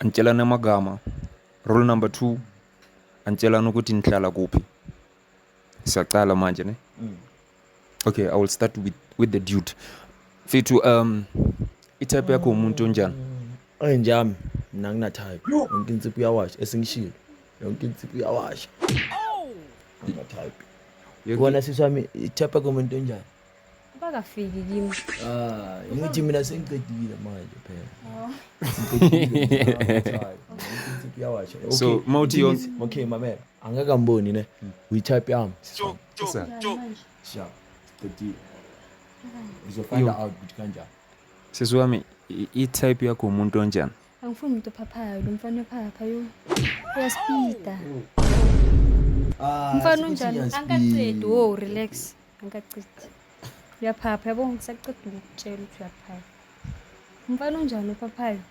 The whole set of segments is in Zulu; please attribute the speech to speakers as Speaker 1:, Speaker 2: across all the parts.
Speaker 1: Anitshelane amagama. Rule number two, anitshelane ukuthi nihlala kuphi. Siyaqala manje ne? Mm. Okay, I will start with, with the dude. Fethu, um, itype yakho umuntu onjani? Enjami,
Speaker 2: mina nginathayo. Yonke insipho uyawasha, esingishilo. Yonke insipho uyawasha. Nginathayo. Yonke- Kona sisi wami, itype yakho umuntu onjani? bakafiki
Speaker 3: kimi ah ngithi
Speaker 2: mina sengiqedile manje phela oh. so mawuthi yonke
Speaker 1: okay mamela
Speaker 2: angeke amboni ne uyitype yami sha qedile uzofind out ukuthi kanjani sisi wami
Speaker 1: i-type yakho umuntu onjani angifuni umuntu ophaphayo
Speaker 3: lo mfana ophapha yo uyaspida ah, mfana unjani angaqedi wo relax Angacidi. Uyaphapha yabo ngisaceda ukukutshela ukuthi uyaphapha. Umfana unjani ophaphayo?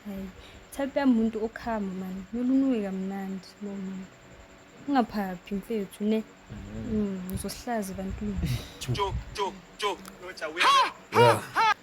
Speaker 3: Hayi. Type yami umuntu okhama mani. Nolunuke kamnandi lo muntu. Ungaphaphi mfethu ne. Mm, uzosihlaza ebantwini. Tjo tjo tjo. Noja wena.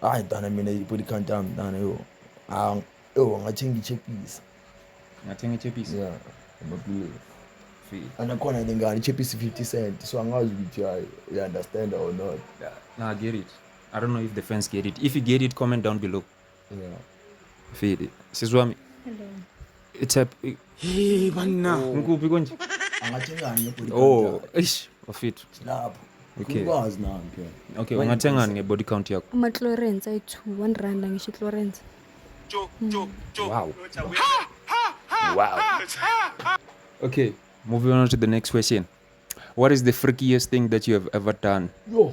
Speaker 1: hayi
Speaker 2: mntana mina ibody count yami mntana yo yo ngathi ngichephisa ngathi
Speaker 1: ngichephisa yeah amabhulu
Speaker 2: anakhona le ngane ichephisa 50 cent so angazi ukuthi hayi you understand or not nah get it
Speaker 1: i don't know if the fans get it if you get it comment down below
Speaker 2: Yeah. Fili.
Speaker 1: Sizwami. Hello.
Speaker 3: It's a
Speaker 1: Hey banna. Oh. Ngikuphi konje? Angathengani
Speaker 2: ngebody count. Oh, eish,
Speaker 1: wafithu. Lapho.
Speaker 2: Okay. Ngikwazi
Speaker 1: nami phela.
Speaker 2: Okay, ungathengani
Speaker 1: ngebody count yakho? Ama Chlorens ayi 2, 1
Speaker 3: rand ngisho Chlorens.
Speaker 1: Hmm. Wow. Wow. Okay, moving on to the next question. What is the freakiest thing that you have ever done? Yo.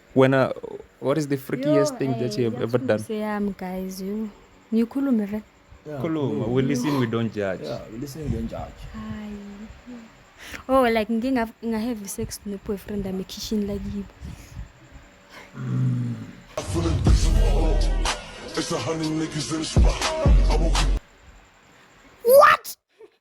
Speaker 2: wena
Speaker 1: what is the freakiest thing that you have ever done yami guys
Speaker 3: you ngikhulume vele khuluma we
Speaker 1: listen we don't judge yeah
Speaker 3: we listen we don't judge hayi oh like ngike ngahave sex noboyfriend ami ekhishini lakibo mm. It's
Speaker 4: a hundred niggas in the spot. I won't keep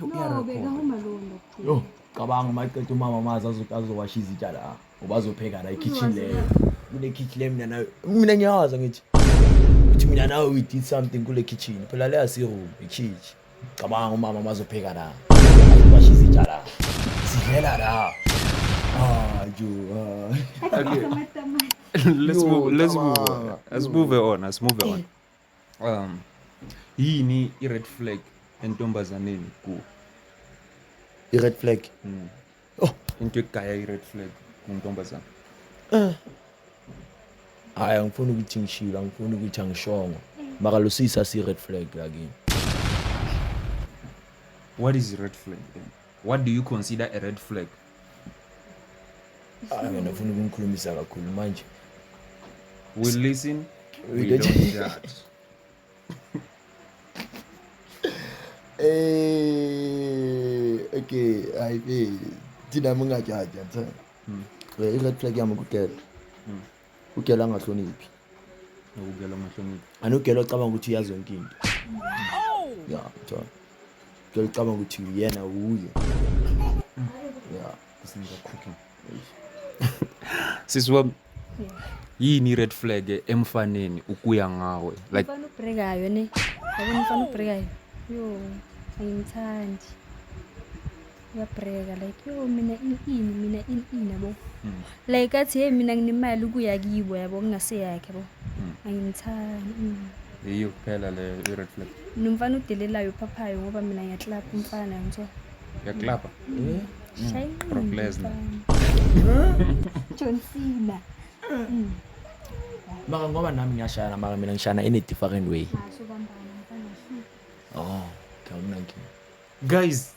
Speaker 2: Yo, No, iyarecord. bekahamba lowo
Speaker 3: ndokuthula. Yo, cabanga
Speaker 2: uma eqeda umama amazi azo- azowasha izitsha la ngoba azopheka la ekhitchen leyo kule kitchen le mina nayo mina ngiyawazi ngithi ukuthi mina nawe we did something kule kitchen phela leya siroom ikhitchi cabanga umama uma azopheka la azowasha izitsha la sidlela la Ah, jo, ah. Athi Okay. ngithe
Speaker 1: amatamati. let's Yo,
Speaker 2: move let's move cabanga.
Speaker 1: on. let's move on let's move on um yini i-red flag entombazaneni ku
Speaker 2: i-red flag mm. oh into egaya
Speaker 1: i-red flag kuntombazana eh
Speaker 2: hayi angifuni ukuthi ngishilo angifuni ukuthi angishongo maka lo sisi asi-red flag lakini
Speaker 1: what is i-red flag then What do you consider a red flag? Ah,
Speaker 2: mina ufuna ukungikhulumisa kakhulu manje.
Speaker 1: We listen, we, we don't judge.
Speaker 2: Eh, okay, I be. Thina mungajaja, cha. Hmm. Eh, i-red flag yami kudela. Hmm. ugela angahloniphi nokugela
Speaker 1: amahloniphi anugela ocabanga ukuthi
Speaker 2: uyazi yonke into ya cha ugela ocabanga ukuthi uyena wuye ya isinika
Speaker 1: cooking sisi wami yini i-red flag emfaneni ukuya ngawe like Mfana ubhrekayo ne.
Speaker 3: Yabona mfana ubhrekayo. Yo, angimthandi. uyabhreka like yo mina ini ini mina ini ini yabo hmm. like athi hey mina nginemali ukuya kibo yabo kungaseyakhe yabo hmm. angimthandi hmm. yiyo
Speaker 1: kuphela le i-red flag nomfana udelelayo
Speaker 3: uphaphayo ngoba mina ngiyaklapha umfana ngithiwa uyaklapha shayinqinbroclesner
Speaker 1: john
Speaker 3: cena
Speaker 2: maka ngoba nami ngiyashayana maka mina ngishayana in a different way
Speaker 3: oh
Speaker 2: okay, guys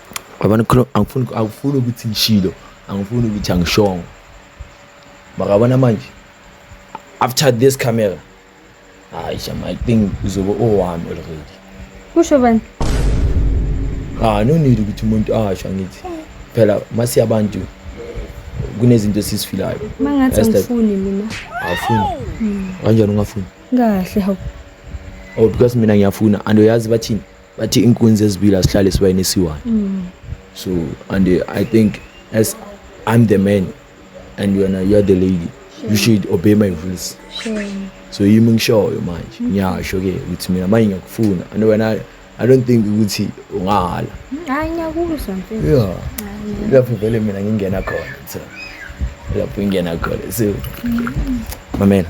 Speaker 2: yabona angifuni angifuni ukuthi ngishilo angifuni ukuthi angishongo makabona manje after this camera hayi shama i think uzobe owami already kusho bani ah no need ukuthi umuntu asho angithi phela masiya abantu kunezinto esisifilayo mangathi angifuni
Speaker 3: mina awufuni
Speaker 2: kanjani ungafuni kahle hawu
Speaker 3: oh because
Speaker 2: mina ngiyafuna and uyazi bathini bathi inkunzi ezibili asihlale sibayini esiwani mm. so and uh, i think as i'm the man and you are, you are the lady sure. you should obey my rules sure. so
Speaker 3: yimi
Speaker 2: ngishoyo manje mm-hmm. ngiyasho ke ukuthi mina manje ngiyakufuna and wena i don't think ukuthi ungahala hayi ngiyakuzwa
Speaker 3: mfethu
Speaker 2: yeah lapho vele mina ngingena khona so lapho ingena khona so mm-hmm. mamela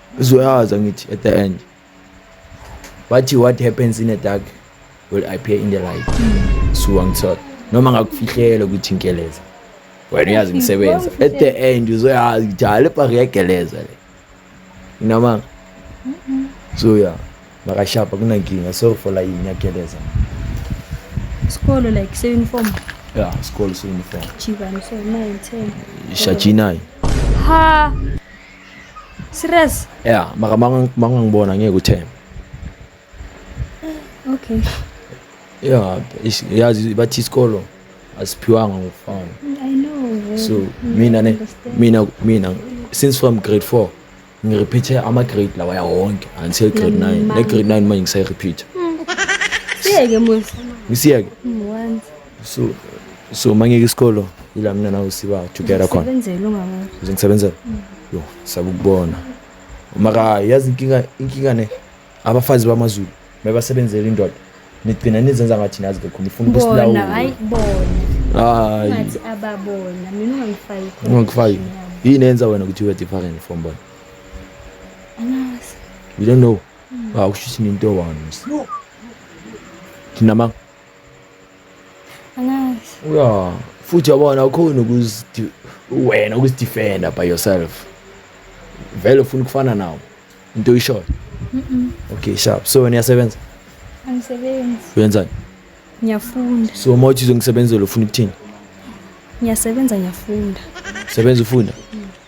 Speaker 2: uzoyazi angithi at the end bathi what happens in the dark will appear in the light so angithola noma ngakufihlela ukuthi ngigeleza wena uyazi ngisebenza at the end uzoyazi ukuthi hayi lepha ngiyageleza le noma so ya makashapa kunankinga sorry for la yini yageleza isikolo
Speaker 3: like se-uniform ya isikolo
Speaker 2: se-uniform jibani
Speaker 3: so nine ten shajinayi
Speaker 2: ha
Speaker 3: Serious? Yeah, maka
Speaker 2: mangang mangangibona ngeke uthembe.
Speaker 3: Okay.
Speaker 2: Yeah, is- yazi bathi isikolo asiphiwanga ngokufana. I know.
Speaker 3: So mina ne mina mina
Speaker 2: since from grade 4 ngirepeathe ama grade lawa ya wonke until grade 9. Ne grade 9 manje ngisayirepeatha.
Speaker 3: Siyeke musa. Ngisiyeke.
Speaker 2: One.
Speaker 3: so so
Speaker 2: mangeke isikolo ila mina nawe siba together khona Sebenzele ungabona. nje
Speaker 3: ngisebenzela
Speaker 2: yo sabukubona maka yazi inkinga inkinga ne abafazi bamazulu mebasebenzela indoda nigcina nizenza ngathi nazi lokho nifuna Bona ukusilawula hayi bona.
Speaker 3: hayi
Speaker 2: Ungathi
Speaker 3: ababona. Mina ungangifaki khona. ungangifaki yini
Speaker 2: enza
Speaker 3: wena ukuthi ube
Speaker 2: different from bona Angazi.
Speaker 3: you don't
Speaker 2: know ah ukushuthi ninto one thina ma
Speaker 3: angazi ya futhi
Speaker 2: yabona awukhona ukuzi wena ukuzidefenda by yourself vele ufuna ukufana nawo into oyishoyo okay sharp so wena uyasebenza angisebenzi
Speaker 3: uyenzani
Speaker 2: ngiyafunda
Speaker 3: so uma uthi
Speaker 2: uzongisebenzela ufuna ukuthini ngiyasebenza
Speaker 3: ngiyafunda sebenza ufunda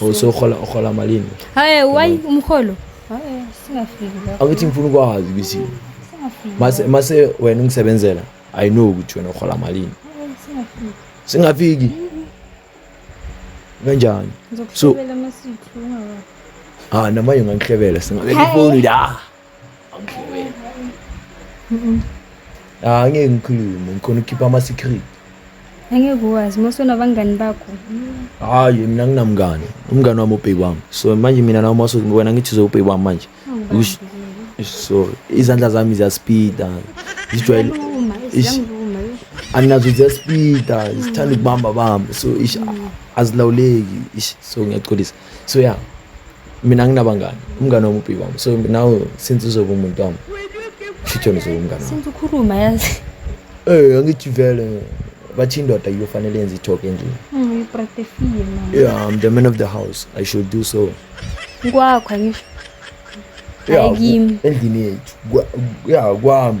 Speaker 3: usohola uhola
Speaker 2: malini hayi why umholo hayi singafiki
Speaker 3: lapho awuthi ngifuna ukwazi ukuthi
Speaker 2: mase
Speaker 3: mase wena
Speaker 2: ungisebenzela i know ukuthi wena uhola malini
Speaker 3: singafiki
Speaker 2: singafiki kanjani so
Speaker 3: ah namanje ungangihlebela
Speaker 2: singabe ifoni la awudliwe ah ngeke ngikhulume ngikhona ukukhipha ama secret angeke
Speaker 3: uwazi mose unabangani bakho hayi
Speaker 2: mina nginamngani umngani wami ubheki wami so manje mina nawe mase wena ngithi zobheki wami manje Ush- so izandla zami ziyaspeeda zijwayele Ziyangiluma, Ish.
Speaker 3: ziyangiluma, ish. anginazo
Speaker 2: ziyaspeeda zithanda ukubamba bamba so ish azilawuleki ish so ngiyaxolisa so ya yeah, mina nginabangani umngane wami ubhi wami so nawe since uzoba umuntu wami shithona uzoba umngane since ukhuluma yazi
Speaker 3: eh angithi
Speaker 2: vele bathi indoda iyofanele yenze ithoke nje mm, yeah
Speaker 3: i'm the man of the
Speaker 2: house i should do so kwakho
Speaker 3: angisho ayikimi endlini yethu
Speaker 2: ya kwami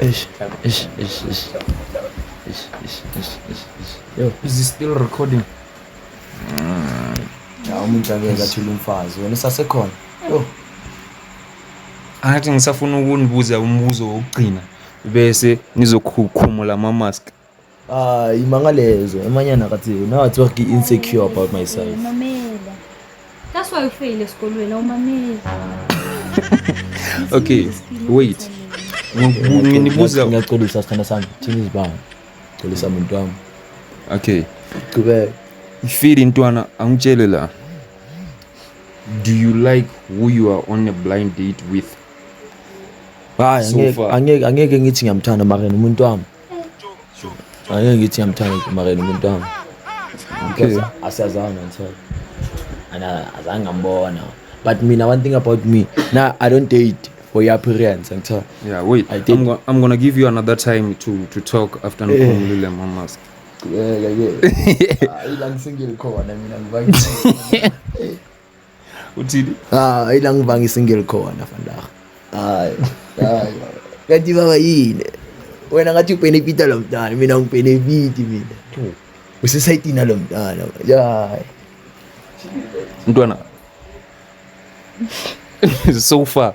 Speaker 2: Eish,
Speaker 1: eish, eish, eish. Eish, eish, eish, eish, eish. Yo, is it still recording?
Speaker 2: Hawu umuntu akeke athule umfazi wena sasekhona. Yo,
Speaker 1: Angathi ngisafuna ukunibuza umbuzo wokugcina bese nizokhukhumula ama-mask. Ah, imanga
Speaker 2: lezo. Emanyana kathi now it's work insecure about myself. Mamela. That's why you
Speaker 3: fail
Speaker 1: esikolweni awumameli. Okay, wait. Nginibuza ngiyaxolisa sithanda
Speaker 2: sami. Thina izibanga. Xolisa muntu wami. Okay.
Speaker 1: Qhubeka.
Speaker 2: Ngifile
Speaker 1: intwana angitshele la. Do you like who you are on a blind date with?
Speaker 2: Hayi, angeke
Speaker 1: angeke ngithi ngiyamthanda
Speaker 2: mara umuntu wami. Angeke ngithi ngiyamthanda uMarela umuntu wami. Okay.
Speaker 1: Asiyazana
Speaker 2: ngithola. And azange ngambona. But mina one thing about me, now I don't date for your appearance ngithola. Yeah, wait. I date. I'm,
Speaker 1: go I'm gonna give
Speaker 2: you another
Speaker 1: time to to talk after eh. ngikhulumile hey. mama. Yeah, yeah, yeah.
Speaker 2: Ayila ngisingile khona mina ngibangile.
Speaker 1: uthini ah ila
Speaker 2: ngivanga isingle khona vandag hayi hayi kanti baba yini wena ngathi ubenefita lo mntana mina ngibenefiti mina usesayidina lo mntana hayi mntwana
Speaker 1: so far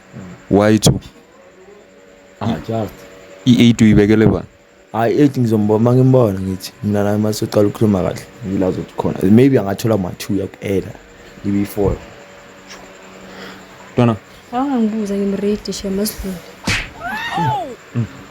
Speaker 1: Why two? Ah,
Speaker 2: just. I-8
Speaker 1: uyibekele bani? Hayi i-8 ngizombona
Speaker 2: uma ngimbona ngithi mina naye uma siqala ukukhuluma kahle ngila zokuthi khona. Maybe angathola ma-2 yakuela ibe i-4. Ntwana.
Speaker 3: Awangibuza ngimready shema sidlule.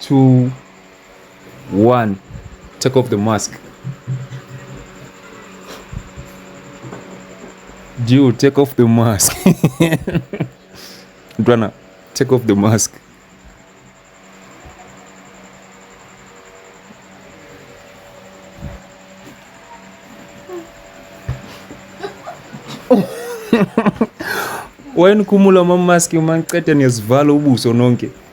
Speaker 1: two one take off the mask Juu, take off the mask Dwana, take off the mask wayenikhumula mamaski uma ngiqeda niyazivala ubuso nonke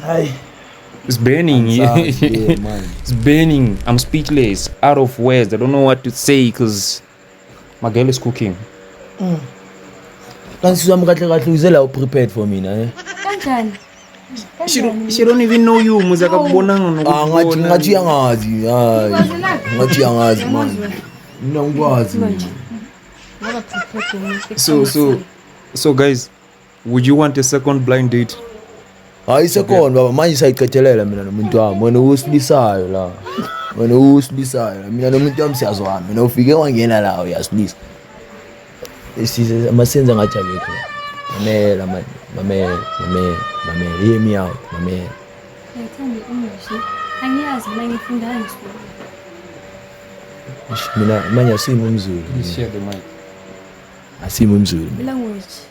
Speaker 2: Hi. It's
Speaker 1: burning. yeah,
Speaker 2: it's
Speaker 1: burning. I'm speechless, out of words. I don't know what to say because my girl is cooking. Mm.
Speaker 2: Kanti sizwa mkahle kahle uzela u prepared for mina eh. Kanjani?
Speaker 3: She
Speaker 1: don't, she don't even know you muze akakubonanga nokubona. Ah ngathi ngathi
Speaker 2: yangazi. Hayi. Ngathi yangazi man. Mina ngikwazi.
Speaker 3: So so
Speaker 1: so guys Would you want a second blind date? Hayi
Speaker 2: second baba manje sayicethelela mina nomuntu wami. Wena usibisayo la. Wena usibisayo la. Mina nomuntu wami siyazwana. Mina ufike wangena la uyasilisa. Isize amasenza ngathi akekho. Mamela manje. Mamela, mamela, mamela. Hear me out. Mamela. Ngithanda English. Angiyazi mina ngifunda ngisifunda. Mina manje asimi umzulu.
Speaker 1: Share the
Speaker 2: mic. Asimi umzulu. Language.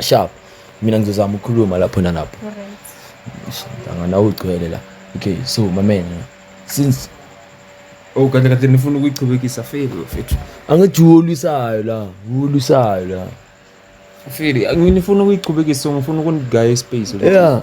Speaker 2: sharp mina ngizozama ukukhuluma lapho nalapho
Speaker 3: anganawo ugcwele
Speaker 2: la okay so mamela since
Speaker 1: oh kade kade nifuna ukuyichubekisa feli mfethu angithi uwolusayo
Speaker 2: la uwolusayo la
Speaker 1: feli nginifuna ukuyichubekisa ngifuna ukunigaya ispace yeah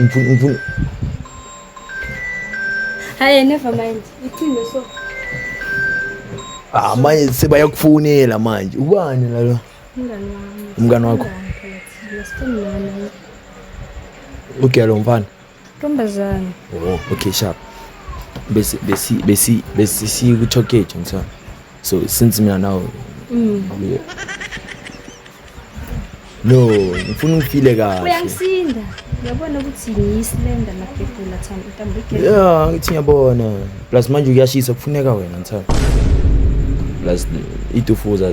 Speaker 2: Ngifuna ngifuna
Speaker 3: Hayi never mind. Iqiniso so. Ah
Speaker 2: manje sebayakufonela manje. Ubani la lo? Umngani wami. Umngani wakho. Ugela umfana. Ntombazane.
Speaker 3: Oh, okay
Speaker 2: sharp. Besi besi besi besi sikuthokeje ngithanda. so since mina nawe mm. no ngifuna ungifile kahle uyangisinda
Speaker 3: uyabona ukuthi ngiyisilenda magebhula thana intambo igebe ya ngithi ngiyabona
Speaker 2: plus manje kuyashisa kufuneka wena ngithanda plus itufuza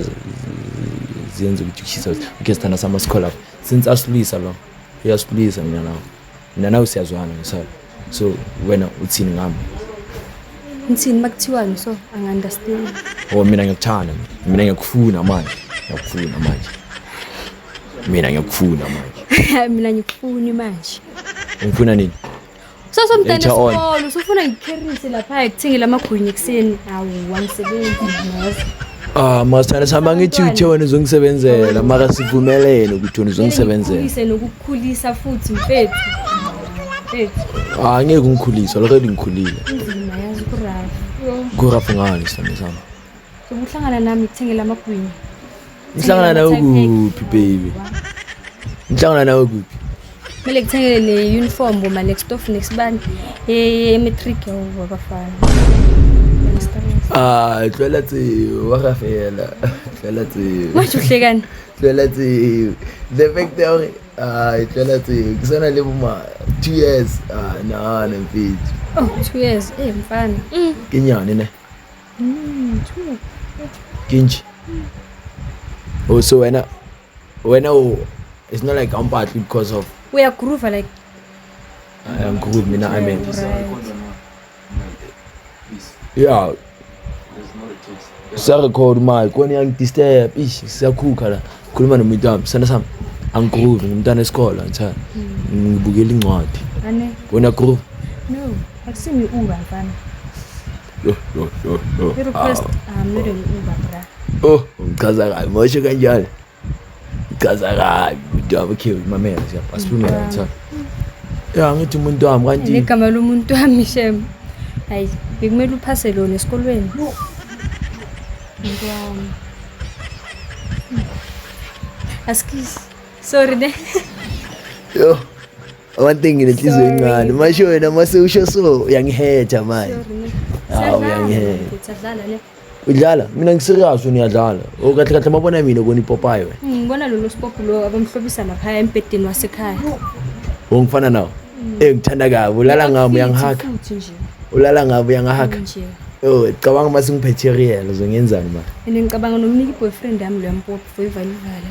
Speaker 2: zenza ukuthi kushisa okay sithanda sama sikholapo since asilwisa lo uyasilwisa mina nawe mina nawe siyazwana ngisala so wena uthini ngami
Speaker 3: ngithini makuthiwani so angi-understand o oh, mina
Speaker 2: ngiyakuthanda mina ngiyakufuna manje ngiyakufuna manje mina ngiyakufuna manje mina ngikufuni
Speaker 3: manje ungifuna nini
Speaker 2: kusasa mntana
Speaker 3: esikolo usufuna
Speaker 2: ngikherise
Speaker 3: lapha ekuthengela amagwinya ekuseni awu wangisebenzi ngazi Ah masithanda sihamba
Speaker 2: ngithi uthe wena uzongisebenzela mara sivumelene ukuthi wena uzongisebenzela. Ngise nokukhulisa
Speaker 3: futhi mfethu. Mfethu. Ah
Speaker 2: ngeke ungikhulise already ngikhulile. Inzima yazi
Speaker 3: kuraf. Kuraf ngani sithanda
Speaker 2: sami. Sokuhlangana
Speaker 3: nami kuthengela amagwinya. Ngihlangana
Speaker 2: nawe kuphi baby? Ngihlangana nawe kuphi? kumele
Speaker 3: kuthengele ne-uniform boma next off next bani ye-matric yabo abafana
Speaker 2: Ah, tlwela tseo wa ga fela tlwela tseo manje uhlekani
Speaker 3: tlwela tseo
Speaker 2: the fact ya gore ah tlwela tseo ke sana le boma two years ah na na mfetsi oh
Speaker 3: two years eh mfana mm. ke nyane
Speaker 2: ne mm,
Speaker 3: ke nje
Speaker 2: o oh, so wena wena u- it's not like awumpatli because of uyagroova like
Speaker 3: I
Speaker 2: am good mina i mean
Speaker 3: yeah
Speaker 2: siyarecord manje kona iyangidisturb ish siyakhukha la khuluma nomuntu wami sithanda sami angigroove ngimntana esikole ngithanda ngibukela incwadi ane wena
Speaker 3: groove
Speaker 2: no
Speaker 3: akusimi uba mfana I-request ahamile ngiuba bra. Oh, ngichaza
Speaker 2: kabi. Moshe kanjani? Ngichaza kabi. Umuntu wami ukhiwe imamela nje. Asiphumele ngithatha. Ya ngithi umuntu wami kanti. Igama lomuntu wami
Speaker 3: shem. Hayi, bekumele uphase lona esikolweni. Umuntu wami. Askis. Sorry ne. Yo.
Speaker 2: One thing nginenhliziyo encane. Masho wena mase usho so uyangihetha manje. Hawu uyangihetha.
Speaker 3: Udlala? Mina
Speaker 2: ngiserious uniyadlala. O oh, kahle kahle mabona mina ubona ipopayi wena. Hmm, ngibona lolu spopo lo
Speaker 3: abamhlobisa lapha embedeni wasekhaya. Ongifana
Speaker 2: nawo. Hmm. Eh ngithanda kabi ulala ngami uyangihaka.
Speaker 3: Ulala ngami
Speaker 2: uyangihaka. Oh,
Speaker 3: cabanga uma
Speaker 2: singiphethe real uzongenzani manje? Mina ngicabanga nomniki
Speaker 3: boyfriend yami lo yampopo for ivalivale.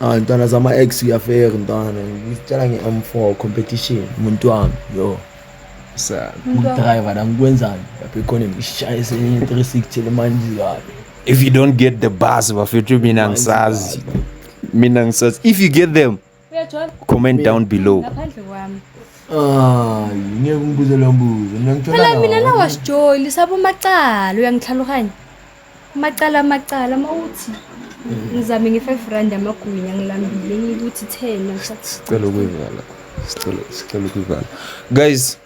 Speaker 2: Ah, ntwana zama ex uyafeka ntwana ngitshela nge M4 competition umuntu wami yo sa
Speaker 1: driver la
Speaker 2: ngikwenzani lapha ikhona ngishaya senye 360 le manje kabi if you don't get
Speaker 1: the bus bafethu mina ngisazi mina ngisazi if you get them comment
Speaker 3: down below ngaphandle
Speaker 2: kwami Ah, ngeke ungibuze lo mbuzo. Mina ngithola. Phela mina nawasijoli
Speaker 3: sabomacala uyangihlaluhanya. Amacala amacala uma uthi ngizame nge-five rand amagwinya ngilambile ngikuthi ten sicela ukuyivala
Speaker 1: sicela sicela ukuyivala guys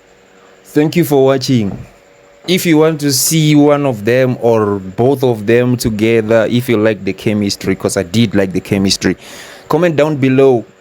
Speaker 1: thank you for watching if you want to see one of them or both of them together if you like the chemistry because i did like the chemistry comment down below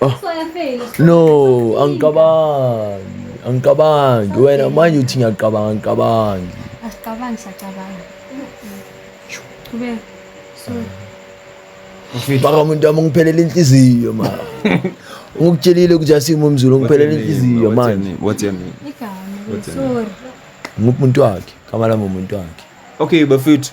Speaker 1: Oh.
Speaker 2: No, angicabangi. Angicabangi. Wena manje uthi ngiyacabanga, angicabangi. Asicabangi,
Speaker 3: siyacabanga. Qhubeka.
Speaker 2: Sorry. Baka umuntu wami ungiphelela inhliziyo ma. Ungikutshelile ukuthi asimo umzulu ungiphelela inhliziyo manje. What's your name?
Speaker 1: Igama.
Speaker 3: Sorry. Ngumuntu
Speaker 2: wakhe, kama lami umuntu wakhe. Okay, bafethu.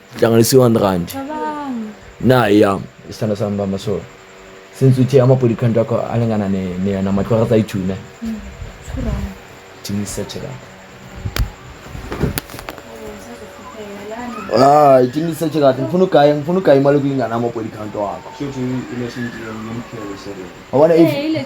Speaker 2: hlanganisa i-one rand nayi yam isithanda sami bama so since uthe ama-body count wakho alingana namatlwara zayi-two ne hmm, tingisetshelaa hayi ah, tingisetshe kahle ngifuna ugaya ngifuna ugaya imali kuyingana ama-body count wakho wabona eh,